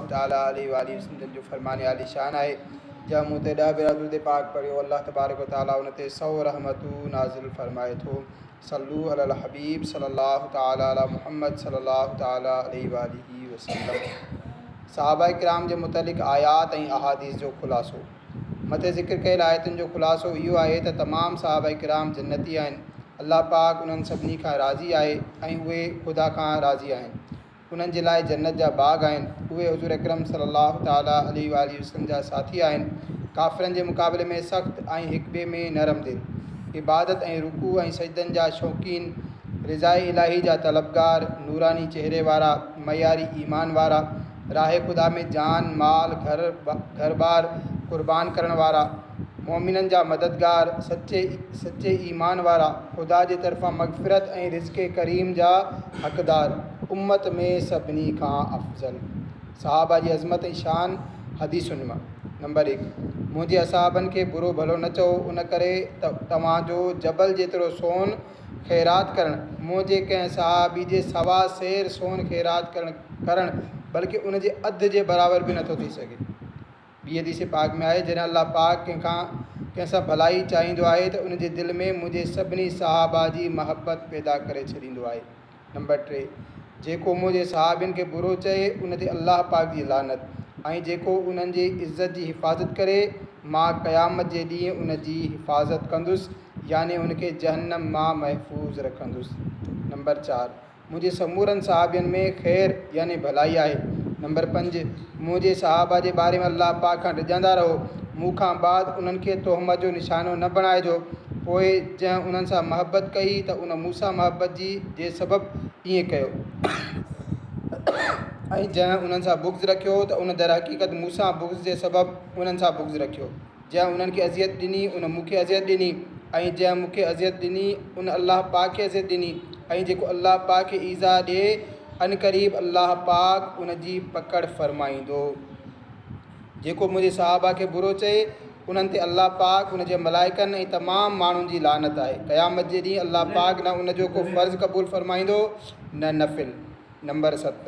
الله تعالي عليه واٰله وسلم جن جو فرمان عالي شان آهي، جنهن مون تي ڏهه ڀيرا درود پاڪ پڙهيو، الله تبارڪ و تعالي ان تي سؤ رحمتون نازل فرمائي ٿو، صلو علي الحبيب صلي الله تعالي علي محمد صلي الله تعالي عليه واٰله وسلم. صحابه ڪرام جي متعلق آيات ۽ احاديث جو خلاصو، مٿي ذڪر ڪيل آيتن جو خلاصو اهو آهي ته تمام صحابه ڪرام جنتي آهن، الله پاڪ انهن سڀني کان راضي آهي ۽ اهي خدا کان راضي آهن، انهن جي لاء جنت جا باغ آهن، اهي حضور اڪرم صلي الله تعالٰي عليه واٰله وسلم جا ساٿي آهن، ڪافرن جي مقابلي ۾ سخت ۽ هڪٻئي ۾ نرم دل، عبادت ۽ رڪوع ۽ سجدن جا شوقين، رضاء الاهي جا طلبگار، نوراني چهري وارا، معياري ايمان وارا، راهه خدا ۾ جان، مال، گهر، گهرٻار قربان ڪرڻ وارا. مؤمنن جا مددگار، سچي سچي ايمان وارا، خدا جي طرفان مغفرت ۽ رزق ڪريم جا حقدار، امت ۾ سڀني کان افضل صحابه جي عظمت ۽ شان حديثن م نمبر هڪ، منهنجي اصحابن کي برو ڀلو نه چئو ان ڪري ته توهان جو جبل جيترو سون خيرات ڪرڻ منهنجي ڪنهن صحابي جي سوا سير سون خيرات ڪرڻ ڪرڻ بلڪه ان جي اڌ جي برابر به نه ٿو ٿي سگهي. ٻي حديث پاڪ ۾ آهي، جڏهن الله پاڪ ڪنهن کان ڪنهن سان ڀلائي چاهيندو آهي ته ان جي دل ۾ منهنجي سڀني صحابه جي محبت پيدا ڪري ڇڏيندو آهي. نمبر ٽي، جيڪو منهنجي صحابين کي برو چئي، ان تي الله پاڪ جي لعنت، ۽ جيڪو انهن جي عزت جي حفاظت ڪري، مان قيامت جي ڏينهن ان جي حفاظت ڪندس يعني ان کي جهنم مان محفوظ رکندس. نمبر چار. منهنجي سمورن صحابين ۾ خير يعني ڀلائي آهي. نمبر پنج، منهنجي صحابه جي باري ۾ الله پاڪ کان ڊڄندا رهو، مون کان بعد انهن کي تهمت جو نشانو نه بڻائجو، پوء جنهن انهن سان محبت ڪئي ته ان مون سان محبت جي جي سبب ائين ڪيو ۽ جنهن انهن سان بغض رکيو ته ان درحقيقت مون سان بغض جي سبب انهن سان بغض رکيو. جنهن انهن کي اذيت ڏني، ان مون کي اذيت ڏني، ۽ جنهن مون کي اذيت ڏني، ان الله پاڪ کي اذيت ڏني، ۽ جيڪو الله پاڪ کي ايذاء ڏئي، عنقريب الله پاڪ ان جي پڪڙ فرمائيندو. جيڪو منهنجي صحابه کي برو چئي، انهن تي الله پاڪ، ان جي ملائڪن ۽ تمام ماڻهن جي لعنت آهي. قيامت جي ڏينهن الله پاڪ نه ان جو ڪو فرض قبول فرمائيندو نه نفل. نمبر ست،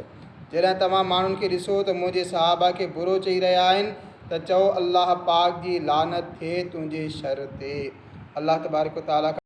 جڏهن توهان ماڻهن کي ڏسو ته منهنجي صحابه کي برو چئي رهيا آهن ته چئو الله پاڪ جي لعنت ٿئي تنهنجي شر تي. الله تبارڪ و تعاليٰ کان.